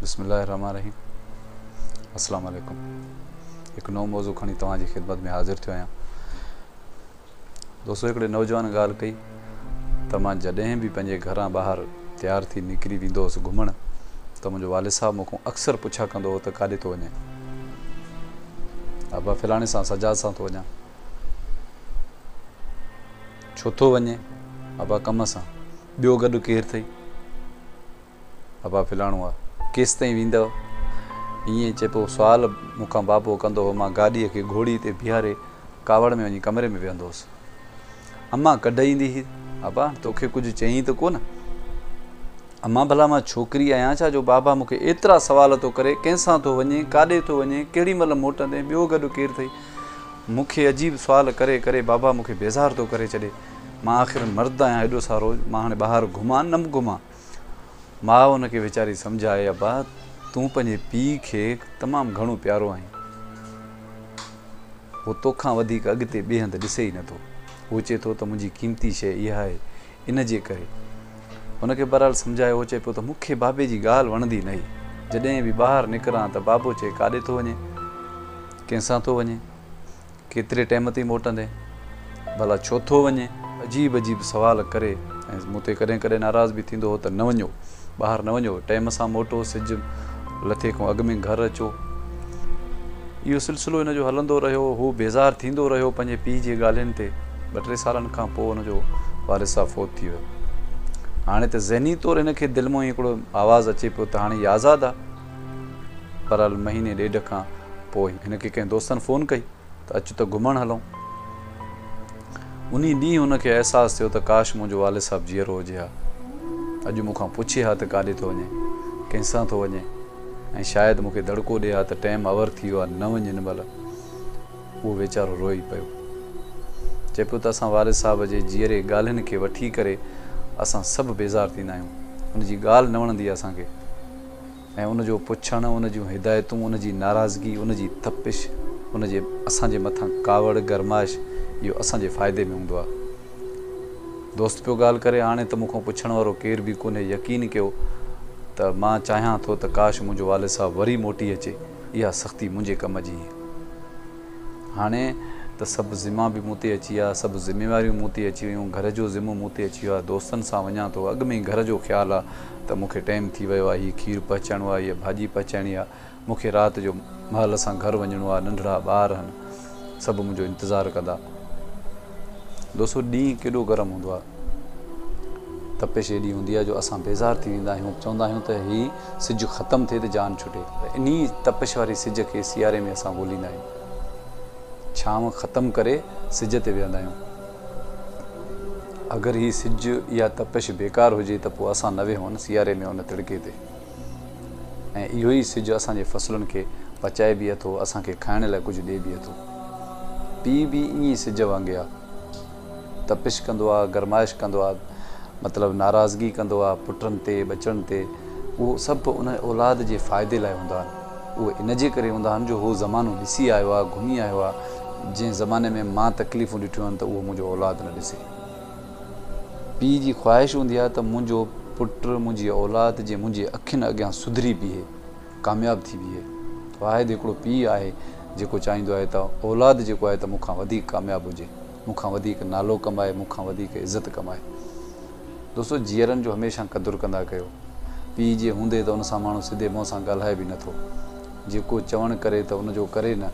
بسم الله الرحمٰن الرحيم السلام عليڪم هڪ نئون موضوع کڻي توهان جي خدمت ۾ حاضر ٿيو آهيان دوستو هڪڙي نوجوان ڳالهه ڪئي ته مان جڏهن به پنهنجي گهران ٻاهر تيار ٿي نڪري ويندو هوس گهمڻ ته منهنجو والد صاحب مون کان اڪثر پڇا ڪندو هو ته ڪاڏي ٿو وڃين ابا فلاڻي سان سجاد سان ٿو وڃان ڇو ٿو وڃي ابا ڪم سان ٻيو گڏ ڪير اٿئي ابا ڦلاڻو آ، ڪيستائين ويندؤ؟ ائين چئي پوء سوال مون کان بابو ڪندو هو. مان گاڏيء کي گهوڙي تي بيهاري ڪاوڙ ۾ وڃي ڪمري ۾ ويهندو هوس. امان ڪڍ ايندي هئي، ابا هاڻ توکي ڪجهه چيائين ته ڪونه؟ امان ڀلا مان ڇوڪري آهيان ڇا جو بابا مون کي ايترا سوال ٿو ڪري، ڪنهن سان ٿو وڃين، ڪاڏي ٿو وڃين، ڪهڙي مهل موٽندين، ٻيو گڏ ڪير اٿئي؟ مون کي عجيب سوال ڪري ڪري بابا مون کي بيزار ٿو ڪري ڇڏي. مان آخر مرد آهيان ايڏو سارو، مان هاڻي ٻاهر گهمان نه گهمان؟ ماء ان کي ويچاري سمجهائي، ابا تون پنهنجي پيء کي تمام گهڻو پيارو آهين. هو توکان وڌيڪ اڳتي ٻئي هنڌ ڏسي ئي نه ٿو. هو چئي ٿو ته منهنجي قيمتي شيء اها آهي، ان جي ڪري. ان کي بهرحال سمجهائي هو چئي پيو ته مون کي بابي جي ڳالهه وڻندي نه هئي. جڏهن به ٻاهر نڪران ته بابو چئي ڪاڏي ٿو وڃين؟ ڪنهن سان ٿو وڃين؟ ڪيتري ٽيم تي موٽندين؟ ڀلا ڇو ٿو وڃين؟ عجيب عجيب سوال ڪري ۽ مون تي ڪڏهن ڪڏهن ناراض به ٿيندو هو ته نه وڃو، ٻاهر نه وڃو، ٽيم سان موٽو، سج لٿي کان اڳ ۾ گهر اچو. اهو سلسلو هن جو هلندو رهيو. هو بيزار ٿيندو رهيو پنهنجي پيء جي ڳالهين تي. ٻه ٽي سالن کان پوء هن جو والد صاحب فوت ٿي ويو. هاڻي ته ذهني طور هن کي دل مان هڪڙو آواز اچي پيو ته هاڻي هي آزاد آ. بھرحال مھيني ڏيڍ کان پوء ھن کي ڪنھن دوستن فون ڪئي ته اچ ته گھمڻ ھلون. انھي ڏينھن ھن کي احساس ٿيو ته ڪاش منھنجو والد صاحب جيئرو ھجي ھا. اڄ مون کان پڇي ھا ته ڪاڏي ٿو وڃين؟ ڪنھن سان ٿو وڃين؟ ۽ شايد مون کي دڙڪو ڏي ھا ته ٽيم اوور ٿي ويو آھي نه وڃ ھن مھل. اھو ويچارو روئي پيو. چئي پيو ته اسان والد صاحب جي جيئري ڳالھين کي وٺي ڪري اسان سڀ بيزار ٿيندا آھيون. ان جي ڳالھ نه وڻندي آھي اسان کي. ۽ ان جو پڇڻ، ان جون هدايتون، ان جي ناراضگي، ان جي تپش، ان جي اسان جي مٿان ڪاوڙ، گرمائش، اهو اسان جي فائدي ۾ هوندو آهي. دوست پيو ڳالهه ڪري، هاڻي ته مون کان پڇڻ وارو ڪير به ڪونهي، يقين ڪيو ته مان چاهيان ٿو ته ڪاش منهنجو والد صاحب وري موٽي اچي، اها سختي منهنجي ڪم جي هئي. هاڻي ته سڀ ذما به مون تي اچي ويا، سڀ ذميواريون مون تي اچي ويون، گهر جو ذمو مون تي اچي ويو آهي، دوستن سان وڃان ٿو، اڳ ۾ ئي گهر جو خيال آهي ته مون کي ٽيم ٿي ويو آهي، هي کير پهچائڻو آهي، هيء ڀاڄي پهچائڻي آهي، مون کي رات جو مهل سان گهر وڃڻو آهي، ننڍڙا ٻار آهن، سڀ منهنجو انتظار ڪندا. دوستو ڏينهن ڪيڏو گرم هوندو آهي. تپش ايڏي هوندي آهي جو اسان بيزار ٿي ويندا آهيون، چوندا آهيون ته هي سج ختم ٿئي ته جان ڇٽي. پر انهي تپش واري سج کي سياري ۾ اسان ڳوليندا آهيون. ڇانو ختم ڪري سج تي ويهندا آهيون. اگر هي سج يا تپش بيڪار هجي ته پوء اسان نه ويهون سياري ۾ ان تڙڪي تي. ۽ اهو ئي سج اسان جي فصلن کي پچائي به اٿو، اسان کي کائڻ لاء ڪجهه ڏئي به اٿو. پيء به ائين ئي سج وانگي آ. تپش ڪندو آ، گرمائش ڪندو آ، مطلب ناراضگي ڪندو آ، پٽن تي، ٻچڙن تي، اهو سڀ ان اولاد جي فائدي لاء هوندا آهن. اهي ان جي ڪري هوندا آهن جو هو زمانو ڏسي آيو آ، گهمي آيو آ، جنهن زماني ۾ مان تڪليفون ڏٺيون آهن ته اهو منهنجو اولاد نه ڏسي. پيء جي خواهش هوندي آ ته منهنجو پٽ، منهنجي اولاد جي منهنجي اکين اڳيان سڌري بيهي. ڪامياب ٿي بيهي. واحد هڪڙو پيء آهي جيڪو چاهيندو آهي ته اولاد جيڪو آهي ته مون کان وڌيڪ ڪامياب هجي، مون کان وڌيڪ نالو ڪمائي، مون کان وڌيڪ عزت ڪمائي. دوستو جيئرن جو هميشه قدر ڪندا ڪيو. پيء جي هوندي ته ان سان ماڻهو سڌي منهن سان ڳالهائي به نه ٿو. جيڪو چوڻ ڪري ته ان جو ڪري نه.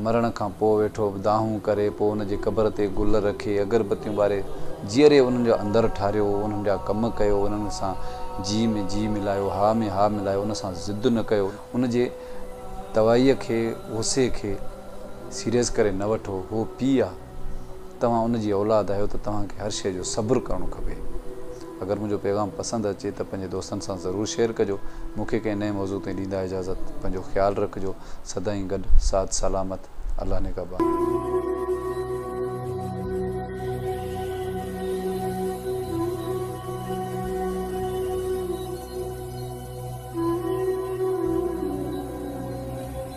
مرڻ کان پوء ويٺو دانهون ڪري، پوء ان جي قبر تي گل رکي، اگربتيون ٻاري، جيئري انهن جو اندر ٺاريو، انهن جا ڪم ڪيو، انهن سان جي ۾ جي ملايو، ها ۾ ها ملايو، ان سان ضد نه ڪيو، ان جي توائيء کي، غصي کي، سيريس ڪري نه وٺو، هو پيء آ. توهان ان جي اولاد آهيو ته توهان کي هر شيء جو صبر ڪرڻو کپي. اگر منهنجو پيغام پسند اچي ته پنهنجي دوستن سان ضرور شيئر ڪجو. مون کي ڪنهن نئين موضوع تائين ڏيندا اجازت. پنهنجو خيال رکجو. سدائين گڏ ساٿ سلامت. الله نگهبان.